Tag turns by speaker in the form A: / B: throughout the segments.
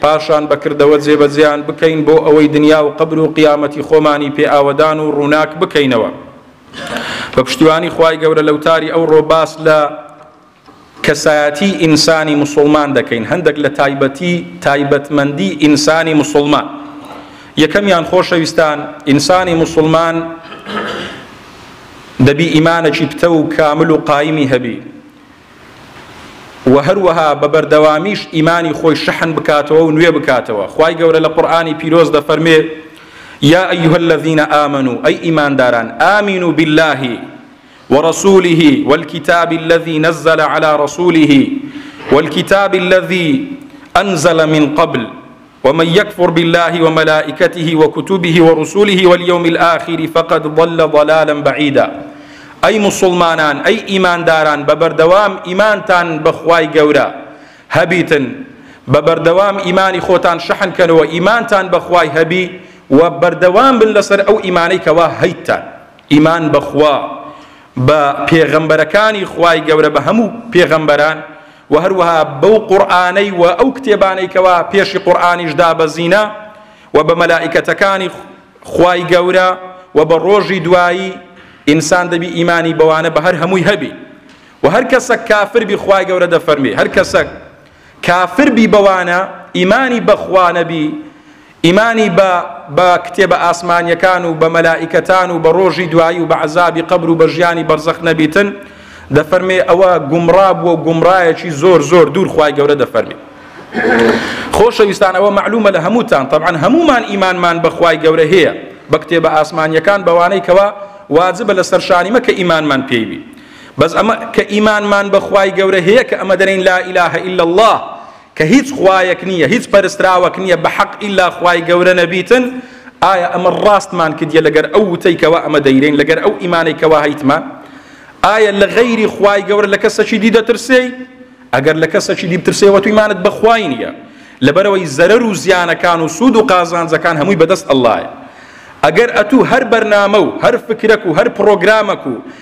A: پاشان بە کردەوە جێبەجێیان بکەین بۆ ئەوەی دنیا و قەبر و قیامەتی خۆمانی پێ ئاوەدان و ڕووناک بکەینەوە بە پشتیوانی خوای گەورە لە وتاری ئەوڕۆ باس لە کەسایەتی ئینسانی مسلمان دەکەین هەندێک لە تایبەتی تایبەتمەندی ئینسانی مسلمان یەکەمیان خۆشەویستان ئینسانی مسلمان دەبی ئیمانەکی پتە و کامل و قایمی هەبی وە هەروەها بە بەردەوامیش ئیمانی خۆی شەحن بکاتەوە و نوێ بکاتەوە خوای گەورە لە قورئانی پیرۆز دەفەرمێ یا ئەیها الذین آمنوا ئەی ئیمانداران آمنوا بالله ورسوله والكتاب الذي نزل على رسوله والكتاب الذي أنزل من قبل ومن یکفر باللە وملائکته وکتبه ورسله والیوم الآخر فقد ضل ضلالا بعیدا ئەی موسڵمانان ئەی ئیمانداران بە بەردەوام ئیمانتان بەخوای گەورە هەبیتن بە بەردەوام ئیمانی خۆتان شەحن کەنەوە ئیمانتان بەخوای هەبی و بەردەوام بن لەسەر ئەو ئیمانەی کەوا هەیتتان ئیمان بەخوا بە پێغەمبەرەکانی خوای گەورە بە هەموو پێغەمبەران وە هەروەها بەو قورئانەی وە ئەو کتێبانەی کەوا پێشی قورئانیش دابەزینە وە بە مەلائیکەتەکانی خوای گەورە وە بە ڕۆژی دوایی ئینسان دەبی ئیمانی بەوانە بە هەر هەمووی هەبی وە هەر کەسەک کافر بی خوای گەورە دەفەرمی هەر کەسەک کافر بی بەوانە ئیمانی بەخوا نەبی ئیمانی بە بە کتێبە ئاسمانیەکان و بە مەلائیکەتان و بە ڕۆژی دوایی و بە عذابی قبر و بە ژیانی بەرزەخ نەبیتن دەفەرمێ ئەوە گومڕا بووە و گومڕایەکی زۆر زۆر دوور خی گەورە دەفەرمی خۆشەویستان ئەوە معلومە لە هەمووتان طبعا هەمومان ئیمانمان بەخوای گەورە هەیە بە کتێبە ئاسمانیەکان بەوانەی کەوا واجبە لە سەرشانیمە کە ئیمانمان پێیبی بەس ئەمە کە ئیمانمان بە خوای گەورە هەیە کە ئەمە دەرین لا اله الا الله کە هیچ خوایەک نییە هیچ پەرستراوەک نییە بە حەق ئیلا خوای گەورە نەبیتن ئایا ئەمە ڕاستمان کردیە لەگەر ئەو وتەی کەوا ئەمە دەیرین لەگەر ئەو ئیمانەی کەوا هەیتمان ئایا لە غەیری خوای گەورە لە کەسەکی دی دەترسێی ئەگەر لە کەسەکی دی بترسێەوە تویمانت بەخوای نییە لەبەرەوەی زەرەر و زیانەکان و سوود و قازانجەکان هەمووی بەدەست ئەللایە ئەگەر ئەتوو هەر بەرنامە و هەر فکرەک و هەر پرۆگرامەک و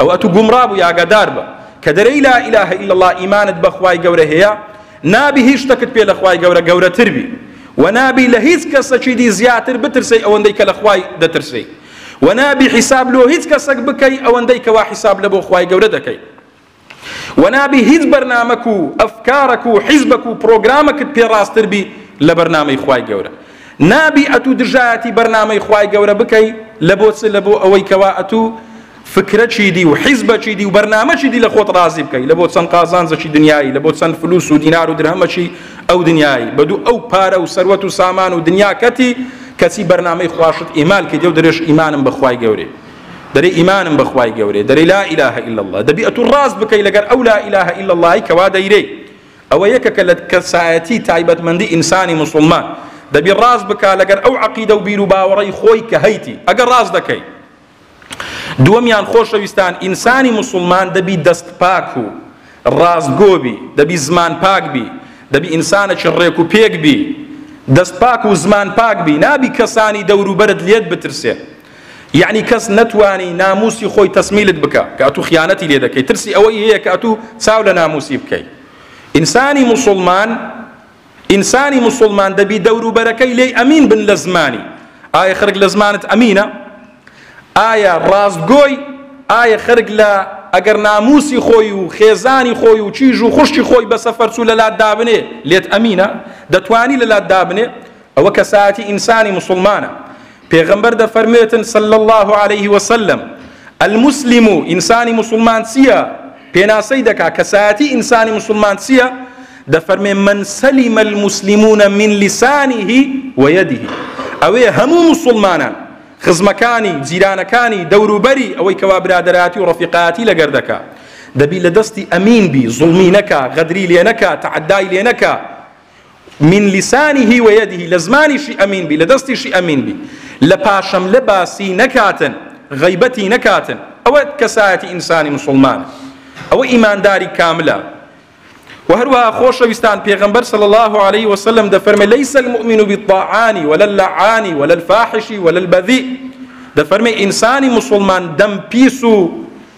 A: ئەوە ئەتوو گومڕا بووی ئاگادار بە کە دەرێی لا الە الا اللە ئیمانت بە خوای گەورە هەیە نابی هیچ شتەکت پێ لە خوای گەورە گەورەتر بی و نابی لە هیچ کەسەکی دی زیاتر بترسەی ئەوەندەی کە لە خوای دەترسەی و نابی حیساب لۆ هیچ کەسەک بکەی ئەوەندەی کەوا حیساب لە بۆ خوای گەورە دەکەی و نابی هیچ بەرنمەک و ئەفکارەک و حیزبەک و پرۆگرامەکت پێڕاستتر بی لە بەرنمەی خوای گەورە نابی ئەتوو دژایەتی بەرنامەی خوای گەورە بکەی لەبۆ چ لەبۆ ئەوەی کەوا ئەتوو فکرەچی دی و حیزبەچی دی و بەرنامەچی دی لە خۆت ڕازی بکەی لە بۆ چەند قازانجەکی دنیایی لە بۆ چەند فلوس و دینار و درهەمەکی ئەو دنیایی بە دوو ئەو پارە و سەروەت و سامان و دنیاکەتی کەچی بەرنامەی خواشت ئیمال کە دێو درێژ ئیمانم بەخوای گەورێ دەرێ ئیمانم بەخوای گەورێ دەرێ لا ئیلاه الا الله دەبی ئەتوو ڕاست بکەی لەگەر ئەو لا ئیلاه الا اللهی کەوا دەیرێی ئەوە یەکە کە لە کەسایەتی تایبەتمەندی ئینسانی موسوڵمان دەبی ڕاست بکا لەگەر ئەو عەقیدە و بیر و باوەڕەی خۆی کە هەیتی ئەگەر ڕاست دەکەی دووەمیان خۆشەویستان ئینسانی موسوڵمان دەبی دەست پاک و ڕاستگۆ بی دەبی زمان پاک بی دەبی ئینسانەکی ڕێک و پێک بی دەست پاک و زمان پاک بی نابی کەسانی دەوروبەرت لێت بترسێ یەعنی کەس نەتوانی ناموسی خۆی تەسمیلت بکا کە ئەتوو خیانەتی لێ دەکەی ترسی ئەوەی هەیە کە ئەتوو چاو لە ناموسی بکەی ئینسانی موسوڵمان ئینسانی موسوڵمان دەبی دەوروبەرەکەی لێی ئەمین بن لە زمانی ئایا خەرک لە زمانت ئەمینە ئایا ڕاستگۆی ئایا خەرک لە ئەگەر ناموسی خۆی و خێزانی خۆی و چیژ و خوشتی خۆی بە سەفەرچوو لە لات دابنێ لێت ئەمینە دەتوانی لە لات دابنێ ئەوە کەسایەتی ئینسانی موسڵمانە پێغەمبەر دەفەرموێتن صلی الله عليه وسلم المسلم ئینسانی موسڵمان چییە پێناسەی دەکا کەسایەتی ئینسانی موسڵمان چییە دەفەرمێ من سەلیمە المسلمون من لسانه ويده ئەوێ هەموو مسلمانان خزمەکانی جیرانەکانی دەوروبەری ئەوەی کەوا برادەراتی و ڕفیقاتی لەگەر دەکا دەبی لە دەستی ئەمین بی زڵمی نەکا غەدری لێ نەکا تعدای لێ نەکا من لسانه و یده لە زمانیشی ئەمین بی لە دەستیشی ئەمین بی لە پاشەملە باسی نەکاتن غەیبەتی نەکاتن ئەوە کەسایەتی ئینسانی مسلمان ئەوە ئیمانداری کاملە و هەروەها خۆشەویستان پێغەمبەر صلی الله عليه وسلم دەفەرمێ ليس المؤمن بالطاعان ولا اللعان ولا الفاحش ولا البذيء دەفەرمێ ئینسانی مسلمان دەم پیس و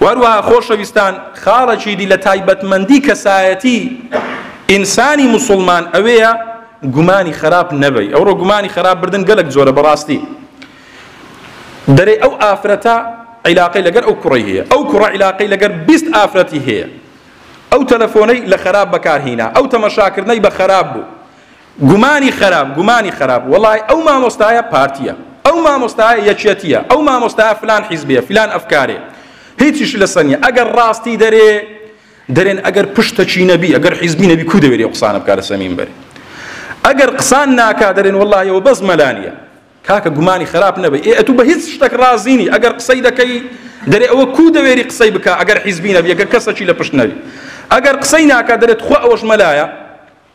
A: و هەروەها خۆشەویستان خاڵەکی دی لە تایبەتمەندی کەسایەتی ئینسانی مسلمان ئەوەیە گومانی خراپ نەبی ئەوڕۆ گومانی خراپ بردن گەلک زۆرە بەڕاستی دەرێ ئەو ئافرەتە عیلاقی لەگەر ئەو کوڕی هەیە ئەو کوڕە عیلاقی لەگەر بیست ئافرەتی هەیە ئەو تەلەفۆنەی لە خراپ بەکارهینا ئەو تەمەشاکردنەی بە خراپ بوو گومانی خەراپ گومانی خەراپ وەڵای ئەو مامۆستایە پارتیە ئەو مامۆستایە یەکیەتیە ئەو مامۆستایە فلان حیزبێ فلان ئەفکارێ هیچیش لەسە نیە ئەگەر ڕاستی دەرێ دەرێن ئەگەر پشتەچی نەبی ئەگەر حیزبی نەبی کو دەوێری قسانە بکە لەسە مینبەر ئەگەر قسان ناکا دەرێن وەڵایەوە بەس مەلانیە کاکە گومانی خراپ نەبێ ئێ ئەتو بە هیچ شتێک ڕازینی ئەگەر قسەی دەکەی دەرێ ئەوە کو دەوێری قسەی بکە ئەگەر حیزبی نەبی ئەگەر کەسەکی لە پشت نەبی ئەگەر قسەی ناکە دەرێت خۆ ئەوەش مەلایە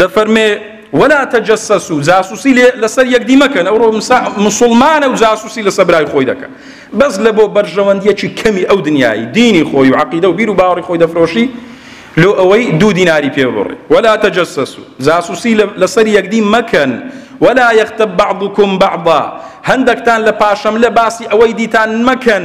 A: دەفەرمێ ولا تجسسوا جاسوسی لەسەر یەکدی مەکەن ئەوڕۆ مسلمانە و جاسوسی لەسەر برای خۆی دەکە بەس لە بۆ بەرژەوەندیەکی کەمی ئەو دنیای دینی خۆی و عقیدە و بیر و باوەڕی خۆی دەفرۆشی لۆ ئەوەی دوو دیناری پێ بڕی ولا تجسسوا جاسوسی لەسەر یەکدی مەکەن ولا یەختە بعضکم بعضا هەندێکتان لە پاشەم لە باسی ئەوەی دیتان مەکەن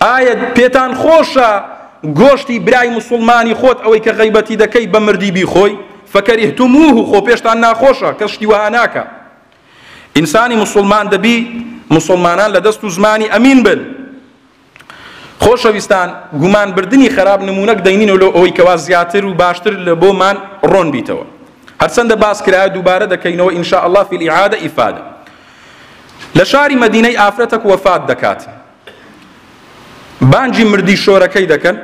A: ئایا پێتان خۆشە گۆشتی برای مسلمانی خۆت ئەوەی کە غیبەتی دەکەی بە مردی بیخۆی فەکەریهتموه خۆ پێشتان ناخۆشە کەس شتی وەها ناکە ئینسانی مسلمان دەبی مسلمانان لە دەست و زمانی ئەمین بن خۆشەویستان گومان بردننی خراپ نمونونەک دەینین و لۆ ئەوەی کەوا زیاتر و باشتر لە بۆمان ڕۆن بیتەوە هەرچەندە باس کرایە دووبارە دەکەینەوە ئینشاء الله فی العادە ئیفادە لە شاری مدینەی ئافرەتەک وەفات دەکات بانگی مردی شۆرەکەی دەکەن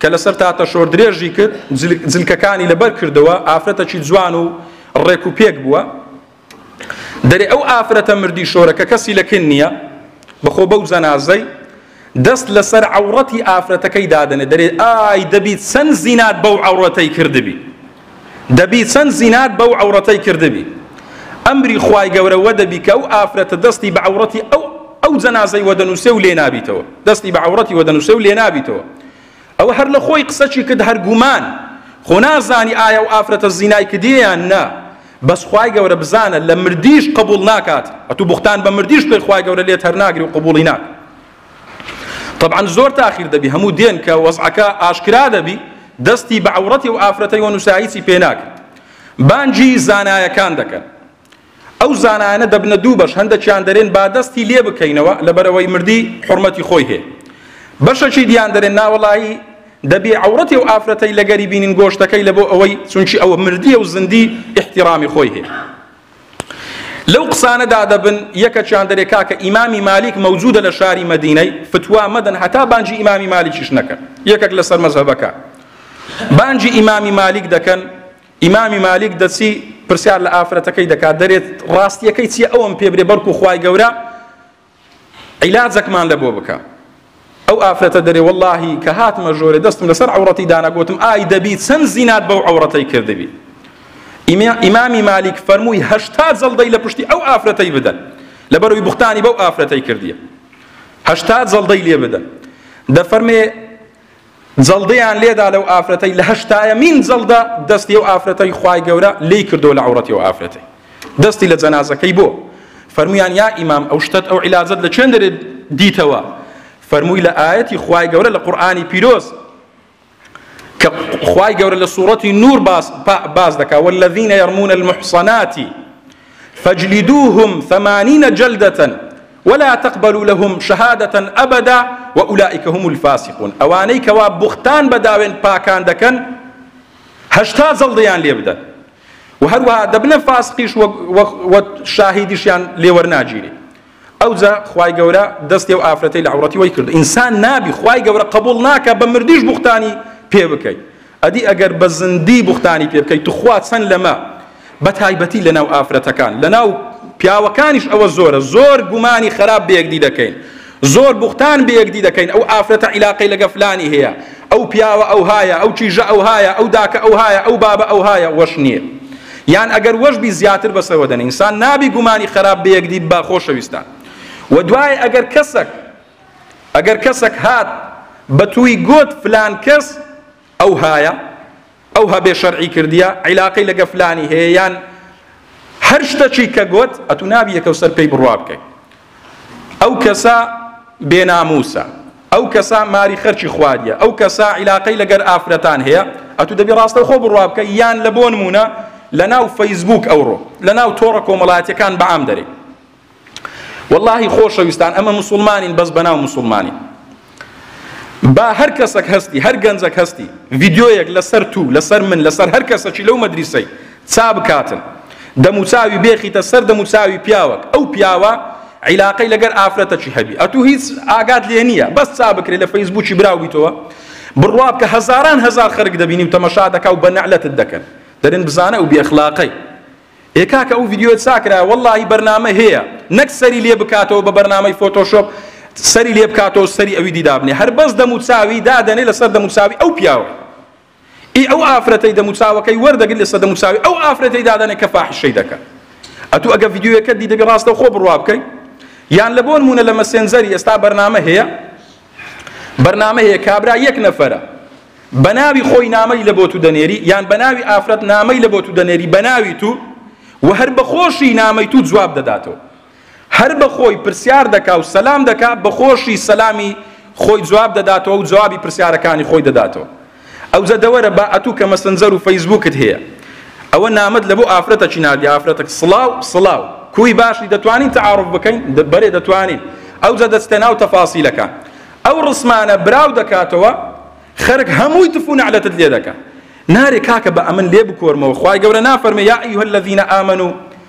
A: کە لەسەر تاتە شۆر درێژی کرد جلکەکانی لەبەر کردەوە ئافرەتەکی جوان و ڕێک و پێک بووە دەرێ ئەو ئافرەتە مردی شۆرەکە کەسی لەکن نییە بەخۆ بەو جەنازەی دەست لەسەر عورەتی ئافرەتەکەی دادنێ دەرێ ئای دەبیت چەند زینات بەو عورەتەی کردبی دەبی چەند زینات بەو عەوڕەتەی کردبی ئەمری خوای گەورە وەدەبی کە ئەو ئافرەتە دەستی بە عەوڕەتی ئەو ئەو جەنازەی وەدەنووسێ و لێنابیتەوە دەستی بە عەوڕەتی وەدەنووسێ و لێنابیتەوە ئەوە هەر لە خۆی قسەچی کرد هەر گومان خۆ نازانی ئایا و ئافرەتە زینای کردیان نا بەس خوای گەورە بزانە لە مردیش قبول ناکات ئەتو بوختان بە مردیش بکەی خوای گەورە لێت هەر ناگری و قبولی ناک تەبعەن زۆر تاخیر دەبی هەموو دێن کە وەزعەکە ئاشکرا دەبی دەستی بە عەورەتی و ئافرەتەی و نووساییسی پێ ناکرد بانگی زانایەکان دەکەن ئەو زانایانە دەبنە دوو بەش هەندێکیان دەرێن با دەستی لێ بکەینەوە لەبەرەوەی مردی حرمەتی خۆی هەیە بەشەکی دیان دەرێن ناوەڵایی دەبێ عورەتی و ئافرەتەی لەگەری بینین گۆشتەکەی لە بۆ ئەوەی چونکی ئەوە مردیە و زندی احتیرامی خۆی هەیە لەو قسانە دادەبن یەکە چیان دەرێ کاکە ئیمامی مالیک مەوجودە لە شاری مەدینەی فتوا مەدەن هەتا بانجی ئیمامی مالیکیش نەکەن یەکەک لەسەر مەزهەبەکە بانجی ئیمامی مالیک دەکەن ئیمامی مالیک دەچی پرسیار لە ئافرەتەکەی دەکات دەرێت ڕاستیەکەی چیە ئەوم پێ برێ بەرکو خی گەورە عیلاجەکمان لە بۆ بکە ئەو ئافرەتە دەرێ وەڵاهی کە هاتمە ژۆرێ دەستم لەسەر عورەتی دانا گوتم ئای دەبی چەند زینات بەو عورەتەی کردبی ئیمامی مالیک فەرمووی هەشتا جەڵدەی لە پشتی ئەو ئافرەتەی بدەن لەبەروی بوختانی بەو ئافرەتەی کردیە هەشتا جەڵدەی لێ بدەن دەفەرمێ جەڵدەیان لێدا لەو ئافرەتەی لە هەشتایەمین جەڵدە دەستی ئەو ئافرەتەی خوای گەورە لی کردو لە عوڕەتی و ئافرەتەی دەستی لە جەنازەکەی بۆ فەرمویان یا ئیمام ئەو شتت ئەو عیلاجت لە چێن دەرێت دیتەوە فەرمووی لە ئاەتی خوای گەورە لە قورآانی پیرۆز کە خوای گەورە لە سوورەتی نور باس باس دەکا والذینە یەرمونە المحسناتی فجلدوهم ثمانینە جلدەتەن ولا تقبلوا لهم شهادە ابدا واولئک هم الفاسقون ئەوانەی کەوا بوختان بە داوێن پاکان دەکەن هەشتا جەڵدەیان لێ بدەن و هەروەها دەبنە فاسقیش وە شاهیدیشیان لێوەرناگیری ئەوجا خوای گەورە دەستی و ئافرەتی لە عورەتی وەی کرد ئینسان نابی خوای گەورە قبول ناکە بە مردیش بوختانی پێ بکەیت ئەدی ئەگەر بە زندی بوختانی پێ بکەی توخوا چەند لەمە بە تایبەتی لەناو ئافرەتەکان لەناو پیاوەکانیش ئەوە زۆرە زۆر گومانی خراپ بەیەکدی دەکەین زۆر بوختان بەیەکدی دەکەین ئەو ئافرەتە عیلاقەی لەگە فلانی هەیە ئەو پیاوە ئەو هایە ئەو کیژە ئەو هایە ئەو داکە ئەو هایە ئەو بابە ئەو هایە وەش نییە یان ئەگەر وەش بی زیاتر بەسەوە دەن ئینسان نابی گومانی خراپ بەیەکدی با خۆشەویستان و دوای ئەگەر کەسەک ئەگەر کەسەک هات بەتووی گۆت فلان کەس ئەو هایە ئەو هەبێ شەرعی کردیە عیلاقەی لەگە فلانی هەیە یان هەر شتەچی کە گۆت ئەتو نابی یەکەو سەر پێی بڕوا بکەیت ئەو کەسە بێناموسە ئەو کەسە ماری خەرچی خواریە ئەو کەسە عیلاقەی لەگەر ئافرەتان هەیە ئەتو دەبی ڕاستە خۆ بڕوا بکە یان لە بۆن مونە لە ناو فەیسبوک ئەوڕۆ لە ناو تۆڕە کۆمەڵاتەکان بەعام دەرێت وەڵاهی خۆشەویستان ئەمە مسوڵمانین بەس بەناو مسوڵمانین با هەر کەسەک هەستی هەر گەنجەک هەستی ڤیدیۆیەک لەسەر تو لەسەر من لەسەر هەر کەسەکی لەو مەدریسەی چا بکاتن دەموچاوی بێخیتە سەر دەموچاوی پیاوەک ئەو پیاوە عیلاقەی لەگەر ئافرەتەکی هەبی ئەتوو هیچ ئاگات لێ نییە بەس چا بکرێ لە فەیسبووکی براویتەوە بڕواب کە هەزاران هەزار خەرک دەبینی و تەمەشا دەکا و بە نەعلەتت دەکەن دەرن بزانە و بێخلاقەی ئێ کاکە ئەو ڤیدیۆ چاکرایە وەڵاهی بەرنامە هەیە نەک سەری لێ بکاتەوە بە بەرنامەی فۆتۆشۆپ سەری لێ بکاتەوە سەری ئەوی دی دابنێ هەر بەس دەموچاوی دادەنێ لەسەر دەموچاوی ئەو پیاوە ئی ئەو ئافرەتەی دەموچاوەکەی وەردەگری لەسەر دەموچاوی ئەو ئافرەتەی دادەنێ کە فاحشەی دەکە ئەتوو ئەگە ڤیدیۆیەکە دی دەبی ڕاستەوخۆ بڕوا بکەی یان لە بۆ نمونە لە مەسێنجەری ئێستا بەرنامە هەیە بەرنامە هەیە کابرا یەک نەفەرە بەناوی خۆی نامەی لە بۆ تو دەنێری یان بەناوی ئافرەت نامەی لە بۆ تو دەنێری بەناوی تو و هەر بەخۆشی نامەی تو جواب دەداتەوە هەر بەخۆی پرسیار دەکا و سەلام دەکا بەخۆشی سەلامی خۆی جواب دەداتەوە و جوابی پرسیارەکانی خۆی دەداتەوە ئەو زەدەوەرە با ئەتوو کە مەسنجەر و فەیسبووکت هەیە ئەوە نامەت لە بۆ ئافرەتە چی ناردی ئافرەتەک سڵاو سڵاو کوی باشی دەتوانین تعارف بکەین بەرێ دەتوانین ئەو زە دەستە ناو تەفاسیلەکە ئەو ڕسمانە براو دەکاتەوە خەرک هەمووی تف و نەعلەتت لێ دەکە نارێ کاکە بە ئەمن لێ بکۆرمەوە خوای گەورە نافەرمێ یا ئەیها الذین آمنوا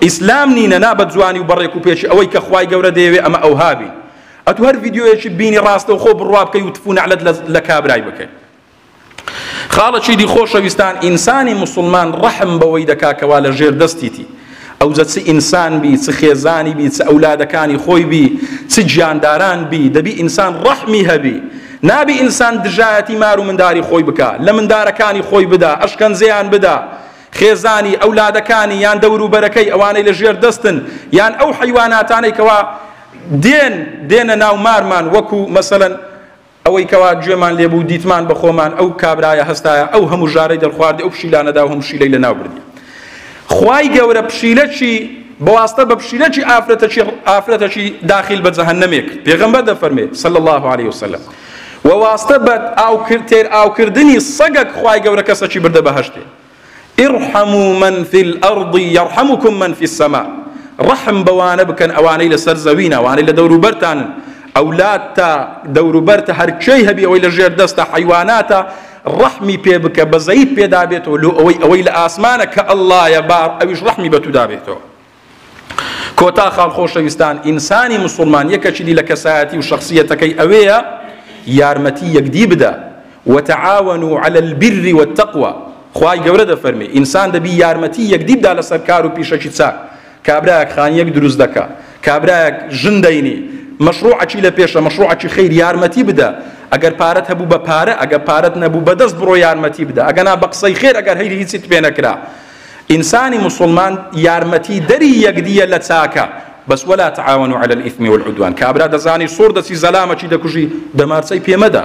A: ئیسلام نینە نا بە جوانی و بە ڕێک و پێکی ئەوەی کە خوای گەورە دەیەوێ ئەمە ئەوها بی ئەتو هەر ڤیدیۆیەکی بینی ڕاستەوخۆ بڕوا بکەی و تفو نەعلەت لە کابرای بکەی خاڵە چیدی خۆشەویستان ئینسانی مسلمان ڕەحم بەوەی دەکا کەوا لە ژێر دەستیتی ئەوجە چ ئینسان بی چ خێزانی بی چ ئەولادەکانی خۆی بی چ گیانداران بی دەبی ئینسان ڕەحمی هەبی نابی ئینسان دژایەتی مار و منداری خۆی بکا لە مندارەکانی خۆی بدا ئەشکەنجەیان بدا خێزانی، ئەولادەکانی یان دەوروبەرەکەی، ئەوانەی لە ژێر دەستن، یان ئەو حەیواناتانەی کەوا دێن دێنە ناو مارمان وەکو مەسەلەن ئەوەی کەوا گوێمان لێ بوو دیتمان بە خۆمان ئەو کابرایە هەستایە ئەو هەموو ژارەی دەرخواردی ئەو پشیلانەدا و هەموو پشیلەی لەناو بردی خوای گەورە پشیلەکی بەواستە بە پشیلەکی ئافرەتەکی ئافرەتەکی داخل بە جەهەنەمێک پێغەمبەر دەفەرمێ صلی الله علیه وسلم وە واستە بەد ئاو کرد تێر ئاو کردنی سەگەک خوای گەورە کەسەکی بردە بەهەشتێ ارحموا من فی الارض یرحمکم من فی السما ڕەحم بەوانە بکەن ئەوانەی لەسەر زەوین ئەوانەی لە دەوروبەرتانن ئەولاد تا دەوروبەرتە هەرکێی هەبی ئەوەی لە ژێر دەستە حیواناتە ڕەحمی پێ بکە بەزەیت پێدابێتەوە لۆ ئەوەی ئەوەی لە ئاسمانە کە ئەللایە با ئەویش ڕەحمی بە تو دابێتەوە کۆتا خاڵ خۆشەویستان ئینسانی مسوڵمان یەکەکی دی لە کەسایەتی و شخصیەتەکەی ئەوەیە یارمەتی یەکدی بدە وتعاونوا على البر والتقوى خوای گەورە دەفەرمی ئینسان دەبی یارمەتی یەکدی بدا لەسەر کار و پیشەکی چاک کابراەک خانیەک دروست دەکا کابراەک ژن دەینی مەشروعەکی لە پێشە مەشروعەکی خیر یارمەتی بدە ئەگەر پارەت هەبوو بە پارە ئەگە پارەت نەبوو بەدەست بڕۆ یارمەتی بدە ئەگەنا بە قسەی خێر ئەگەر هەیری هیچیت پێ نەکرا ئینسانی موسوڵمان یارمەتی دەری یەکدیە لە چاکە بەس ولا تعاونوا علی الاثم والعدوان کابرا دەزانی سوڕ دەچی زەلامەکی دەکوژی دەمارچەی پێمەدە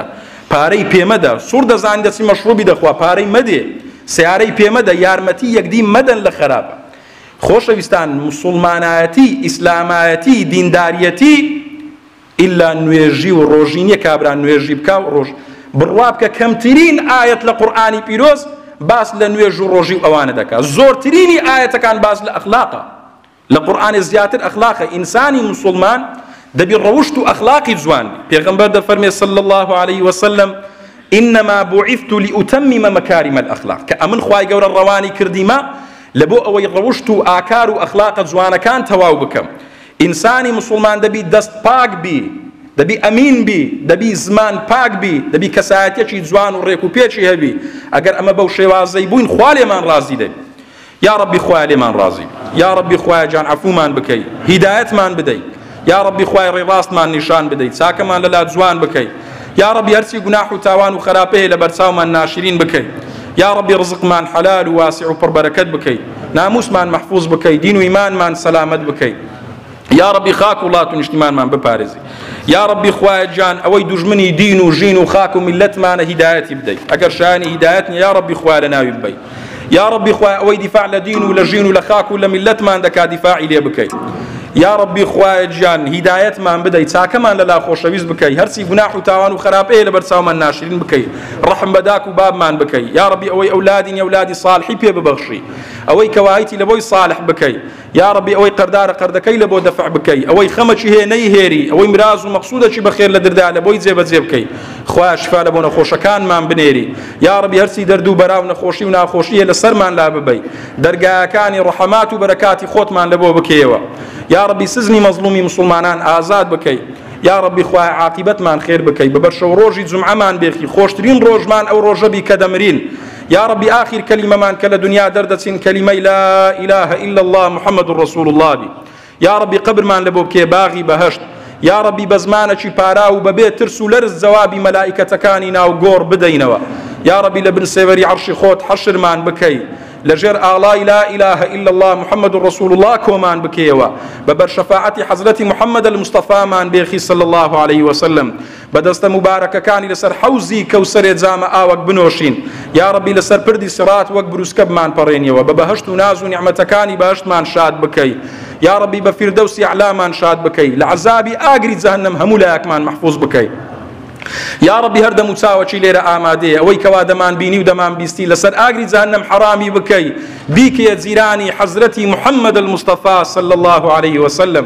A: پارەی پێمەدە سوڕ دەزانی دەچی مەشروبی دەخوا پارەی مەدێ سیارەی پێمەدە یارمەتی یەکدی مەدەن لە خراپە خۆشەویستان مسلمانایەتی ئیسلامایەتی دینداریەتی ئیلا نوێژی و ڕۆژی نییە کابرا نوێژی بکا و ڕۆژ بڕوا بکە کەمترین ئایەت لە قورئانی پیرۆز باس لە نوێژ و ڕۆژی و ئەوانە دەکات زۆرترینی ئاەتەکان باس لە ئەخلاقە لە قورآانێ زیاتر ئەخلاقە ئینسانی مسلمان دەبی ڕەوشت و ئەخلاقی جوان پێغمبەر دەفەرمێ سل الله عليه وسلم إنما بعثت لأتمم مكارم الأخلاق کە ئەمن خوای گەورە ڕەوانی کردیمە لە بۆ ئەوەی ڕەوشت و ئاکار و ئەخلاقە جوانەکان تەواو بکەم ئینسانی موسوڵمان دەبی دەست پاک بی دەبی ئەمین بی دەبی زمان پاک بی دەبی کەسایەتێکی جوان و ڕێک و پێکی هەبی ئەگەر ئەمە بەو شێوازەی بووین خوا لێمان ڕازی دەبی یا ڕەبی خوای لێمان ڕازی یا ڕەبی خوای جان عفومان بکەی هیدایەتمان بدەی یا ڕەبی خوای ڕێڕاستمان نیشان بدەی چاکەمان لەلا جوان بکەی یا ڕەبی هەرچی گوناح و تاوان و خەراپە هەیە لە بەرچاومان ناشرین بکەی یا ڕەبی ڕزقمان حەلال و واسع و پڕبەرەکەت بکەی ناموسمان مەحفوظ بکەی دین و ئیمانمان سەلامەت بکەی یا ڕەبی خاک و وڵات و نیشتیمانمان بپارێزی یا ڕەبی خوایە گیان ئەوەی دوژمنی دین و ژین و خاک و میللەتمانە هیدایەتی بدەیت ئەگەر شایانی هیدایەت نیە یا ڕەبی خوا لە ناوی ببەیت یا ربی خوایە ئەوەی دیفاع لە دین و لە ژین و لە خاک و لە میللەتمان دەکا دیفاعی لێ بکەی یا ربی خوایە گیان هیدایەتمان بدەی چاکەمان لەلا خۆشەویست بکەی هەرچی گوناح و تاوان و خراپەیە لە بەرچاومان ناشرین بکەی ڕحم بە داک و بابمان بکەی یا ربی ئەوەی ئەولادین ئەولادی صالحی پێ ببەخشی ئەوەی کەوایتی لە بۆی صالح بکەی یاڕەبی ئەوەی قەردارە قەردەکەی لەبۆ دەفع بکەی ئەوەی خەمەکی هەیە نەیهێری ئەوەی مراز و مەقسودەکی بەخێر لە دردا لەبۆی جێبەجێ بکەی خوایە شفا لە بۆ نەخۆشەکانمان بنێری یاڕەبی هەرچی دەرد و بەرا و نەخۆشی و ناخۆشی هەیە لە سەرمان لا ببەی دەرگاکانی ڕەحەمات و بەرەکاتی خۆتمان لەبۆ بکەیەوە یاڕەبی سزنی مەزلومی مسلمانان ئازاد بکەی یا ڕبی خوای عاقبەتمان خێر بکەی بە بەرشەو ڕۆژی جمعەمان بێخی خۆشترین ڕۆژمان ئەو ڕۆژەبی کە دەمرین یاڕەبی ئاخیر کەلیمەمان کە لە دنیا دەردەچین کەلیمەی لا ئیلاهە ئیلا اللە محمد ڕسول اللە بی یاڕەبی قەبرمان لە بۆ بکێ باغی بەهەشت یاڕەبی بە زمانەکی پاراو و بەبێ ترس و لەرز جەوابی مەلائیکەتەکانی ناو گۆڕ بدەینەوە یاڕەبی لە بن سێوەری عەرشی خۆت حەشرمان بکەی لەژێر ئاڵای لا إله إلا الله محمد رسول الله کۆمان بکەیەوە بە بەرشەفاعەتی حەزرەتی محمد المستەفامان بێخی صلی الله عليه وسلم بە دەستە موبارەکەکانی لەسەر حەوزی کەوسەرێ جامە ئاوەک بنۆشین یاڕەبی لەسەر پردی سڕات وەک بروسکە بمان پەڕێنیەوە بە بەهەشت و ناز و نیعمەتەکانی بەهەشتمان شاد بکەی یاڕەبی بە فیردەوسی ئەعلامان شاد بکەی لە عەزابی ئاگری جەهەنەم هەموو لایەکمان مەحفوظ بکەی یاڕەبی هەردەم و چاوەکی لێرە ئامادەیە ئەوەی کەوا دەمان بینی و دەمان بیستی لەسەر ئاگری جەهەنەم حەرامی بکەی بیکەیە جیرانی حەزرەتی محەممەد المستەفا صلی الله عليه وسلم